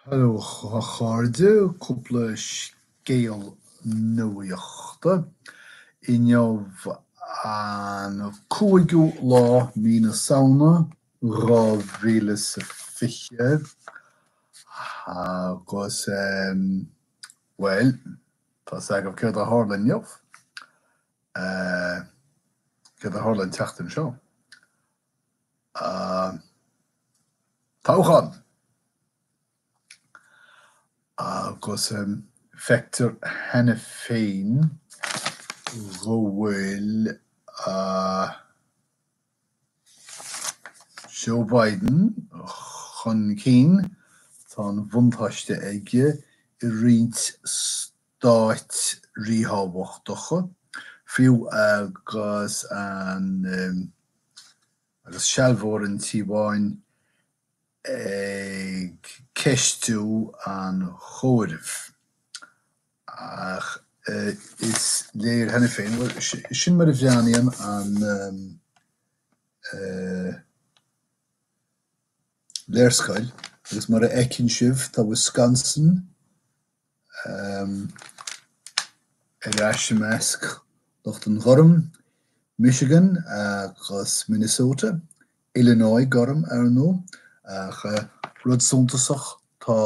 Hello a chairde, cúpla scéal nuachta. Inniu an cúigiú lá mí na Samhna 2020 agus bhuel, tá 'fhios agaibh céard a tharla inniu, céard a tharla an tseachtain seo. toghchán agus feictear cheana féin go bhfuil Joe Biden chun cinn, tá an buntáiste aige i roinnt stáit ríthábhachtacha, fiú agus an sealbhóir an Tí Bháin ag ceistiú an chomhairimh. Ach is léir cheana féin, bhuel, sin mar a bhreathnaíonn an léarscáil, agus mar a fheiceann sibh, tá Wisconsin ar ais i measc lucht an ghoirm, Michigan agus Minnesota, Illinois Gorm, ar ndóigh, ach rud suntasach, tá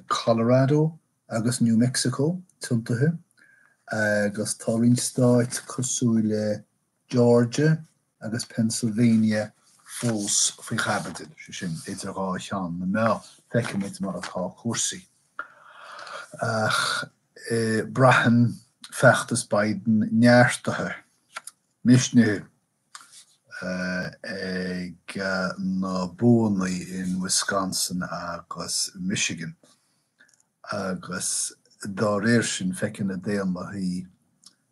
Colorado agus New Mexico tiontaithe, agus tá roinnt stáit cosúil le. Georgia agus Pennsylvania fós faoi chaibidil, sin, idir dhá cheann na meá. Feicfimid mar atá cúrsaí. Ach braitheann feachtas Biden neartaithe, misnithe ag na buanna in Wisconsin agus Michigan, agus dá réir sin, feiceann na Daonlathaigh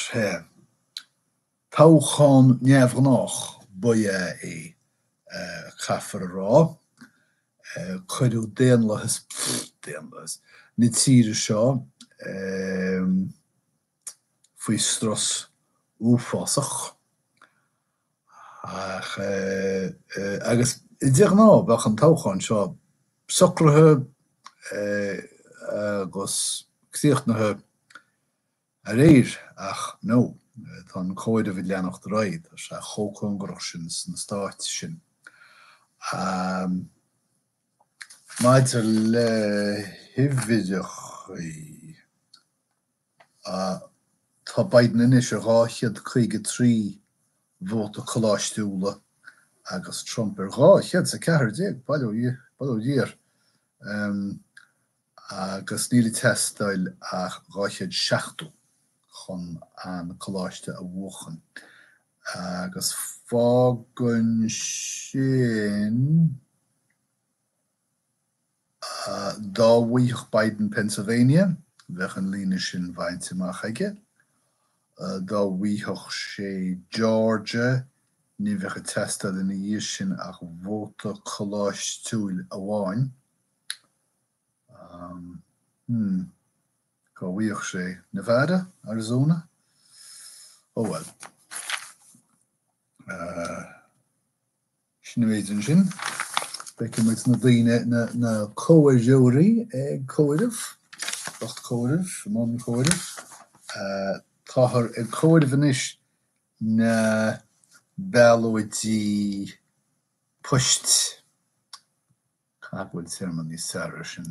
Sea, toghchán neamhghnách ba ea é, caithfear a rá. Cuireadh daonlathas, pfft, daonlathas, na tíre seo faoi strus uafásach. Ach agus de ghnáth bheadh an toghchán seo socraithe agus críochnaithe aréir, ach no, tá an comhaireamh ag leanacht ar aghaidh, tá sé chomh cóngarach sin sna Stáit sin. Maidir le huimhreacha. Tá Biden anois ar 253 vóta coláistiúla agus Trump ar 214, bail ó Dhia orm, agus níl ag teastáil ach 270 chun an coláiste a bhuachan. Agus fágann sin. Dá mbuafadh Biden Pennsylvania, bheadh an líne sin bainte amach aige. Dá mbuafadh sé Georgia, ní bheadh ag teastáil ina dhiaidh sin ach vóta coláistiúil amháin. Hmm. Dá mbuafadh sé Nevada, Arizona? Oh, well. Sin an méid sin. Feicfidh muid na daoine, na comhaireoirí ag comhaireamh, lucht comhairimh, i mbun comhairimh. Táthar ag comhaireamh anois na ballóidí poist. Cá bhfuil téarma níos fearr air sin?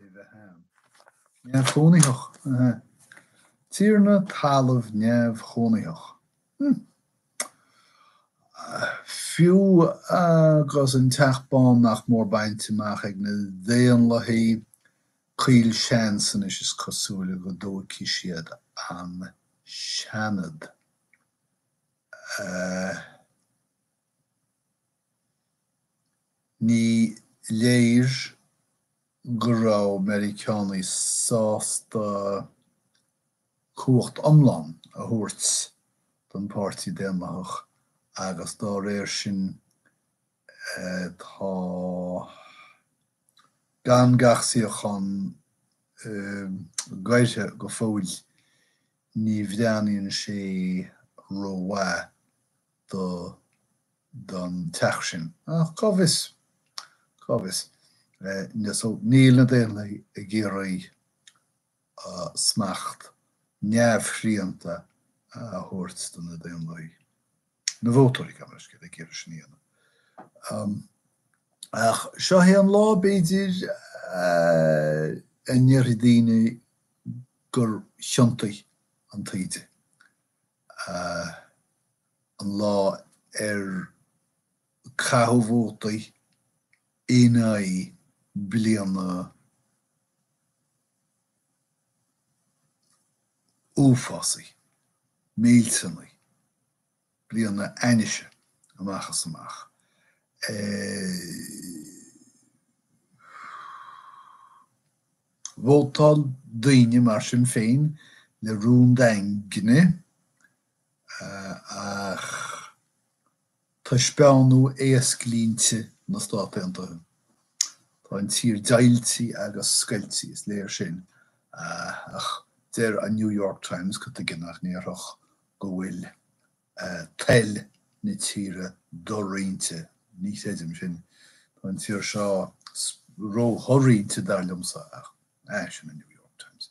i bheith ann. Neamhchónaitheach, ahá. Tiarna talaimh neamhchónaitheach. Hm. Fiú agus an Teach Bán nach mór bainte amach ag na Daonlathaithe, caol seans anois is cosúil go dtógfaidh siad an Seanad. Eh. Ní léir go raibh Meiriceánaigh sásta cumhacht iomlán a thabhairt don Pháirtí Daonlathach agus dá réir sin tá gan gach suíochán gairthe go fóill. Ní bhreathnaíonn sé rómhaith do don teach sin. Ach cá bhfios? Cá bhfios? Níl na Daonlathaigh ag iarraidh smacht neamhshrianta a thabhairt do na Daonlathaigh. Na vótóirí, gabh mo leithscéal, ag iarraidh sin a dhéanamh. Ach seo é an lá, b'fhéidir, a ndéarfaidh daoine gur thiontaigh an taoide. an lá ar caitheadh vótaí in aghaidh bliana uafásaí, millteanaí, bliana ainnise amach is amach. Vótáil daoine mar sin féin le rún daingne Ach taispeánann éasclínte na Stát Aontaithe. Tá an tír deighilte agus scoilte, is léir sin, ach deir an New York Times go dtuigeann, nach ndéarfadh go bhfuil toil na tíre doroinnte. Ní chreidim sin. Tá an tír seo róshoroinnte, dar liomsa, ach sin an New York Times.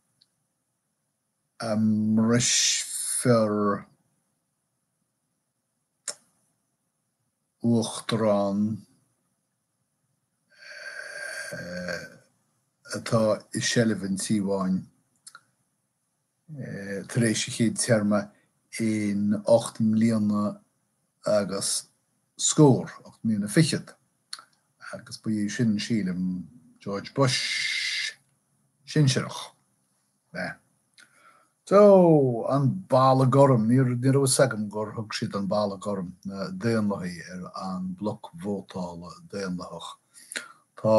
a mbrisfear uachtarán atá i seilbh an Tí Bháin tar éis a chéad téarma in ocht mbliana agus scór, ocht mbliana fichead. Agus ba é sin, sílim, George Bush sinsearach. Bhí. Só, an balla gorm, ní raibh a fhios agam gur thug siad an balla gorm, na Daonlathaigh, ar an mbloc vótála Daonlathach. Tá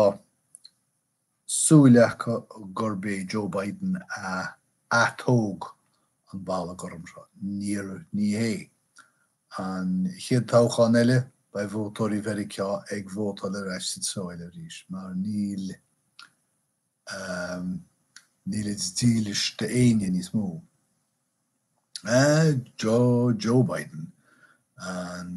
siúl acu gurb é Joe Biden a atóg an balla gorm seo. Níor, ní hé. An chéad toghchán eile, beidh vótóirí Mheiriceá ag vótáil ar ais sa tsiúl arís, mar níl, níl siad dílis d'aoinne níos mó. Joe Biden an.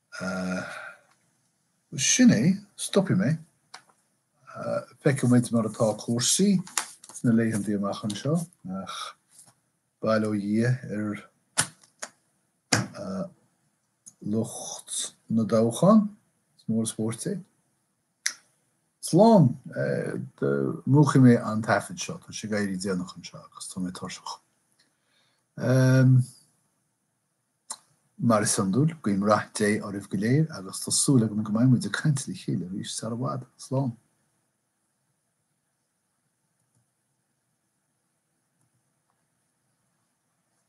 Bhuel, sin é, stopfaidh mé. Feicfidh muid mar atá cúrsaí sna laethanta amach anseo, ach bail ó Dhia ar lucht na dtoghchán, is mór an spórt iad. Slán! Múchfaidh mé an taifead seo, tá sé ag éirí déanach anseo agus tá mé tuirseach. Mar is iondúil, guím rath Dé oraibh go léir agus tá súil agam go mbeidh muid ag caint le chéile arís sar i bhfad. Slán.